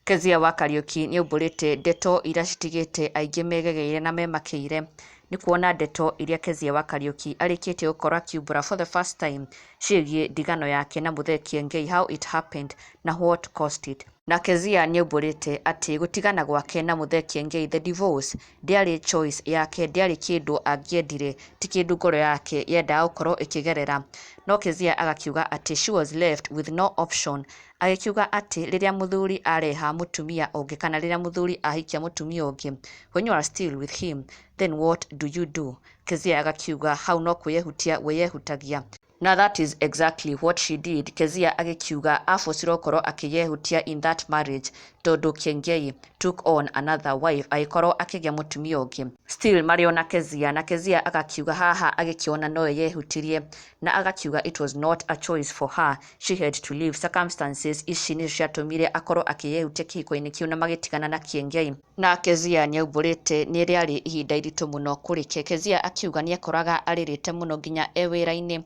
Kezia wa Kariuki nĩ aumbũrĩte ndeto iria citigĩte aingĩ megegeire na memakĩire nĩ kuona ndeto iria Kezia wa Kariuki arĩkĩtie gũkorwo akiumbũra for the first time ciĩgiĩ ndigano yake na Muthee Kiengei, how it happened na what caused it. Na Kezia nĩaumbũrĩte atĩ gũtigana gwake na Mũthee Kiengei, the divorce, ndĩarĩ choice yake, ndĩarĩ kĩndũ angĩendire, ti kĩndũ ngoro yake yendaga gũkorwo ĩkĩgerera. No Kezia agakiuga atĩ she was left with no option, agĩkiuga atĩ rĩrĩa mũthuri areha mũtumia ũngĩ kana rĩrĩa mũthuri ahikia mũtumia ũngĩ, when you are still with him, then what do you do? Kezia agakiuga hau no kwĩyehutia wĩyehutagia. Na that is exactly what she did Kezia agĩkiuga abocirwo ngoro akĩyehutia in that marriage tondũ Kiengei took on another wife agĩkorwo akĩgĩa mũtumia ũngĩ still marĩ ona Kezia na Kezia agakiuga haha agĩkĩona nowe yehutirie na agakiuga it was not a choice for her she had to leave circumstances ici nĩcio ciatũmire akorwo akĩyehutia kĩhiko-inĩ kĩu na magĩtigana na Kiengei Na Kezia nĩaumbũrĩte nĩ rĩarĩ ihinda iritũ mũno kũrĩke. Kezia akiuga nĩekoraga arĩrĩte mũno nginya e wĩra-inĩ.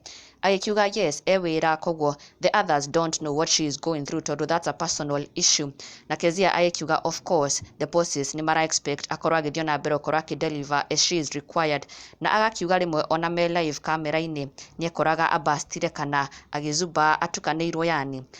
Agĩkiuga yes e wĩra koguo the others don't know what she is going through tondũ that's a personal issue. Na Kezia agĩkiuga of course the bosses nĩ mara expect akorwo agĩthiĩ ona mbere gũkorwo akĩ deliver as she is required. Na agakiuga rĩmwe ona me live camera-inĩ nĩekoraga a burstire kana agĩzumbaa atukanĩirwo yaani.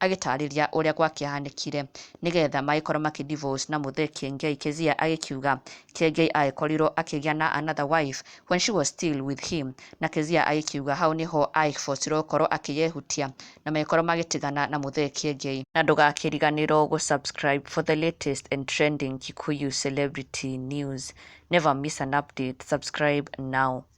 Agĩtaarĩria ũrĩa gwakĩahanĩkire nĩ getha magĩkorwo makĩ divorce na mũthee Kiengei, Kezia agĩkiuga Kiengei agĩkorirwo akĩgĩa na another wife when she was still with him na Kezia agĩkiuga hau nĩ ho aagĩbocirwo gũkorwo akĩyehutia na magĩkorwo magĩtigana na mũthee Kiengei. Na ndũgakĩriganĩrwo gũ subscribe for the latest and trending Kikuyu celebrity news. Never miss an update, subscribe now.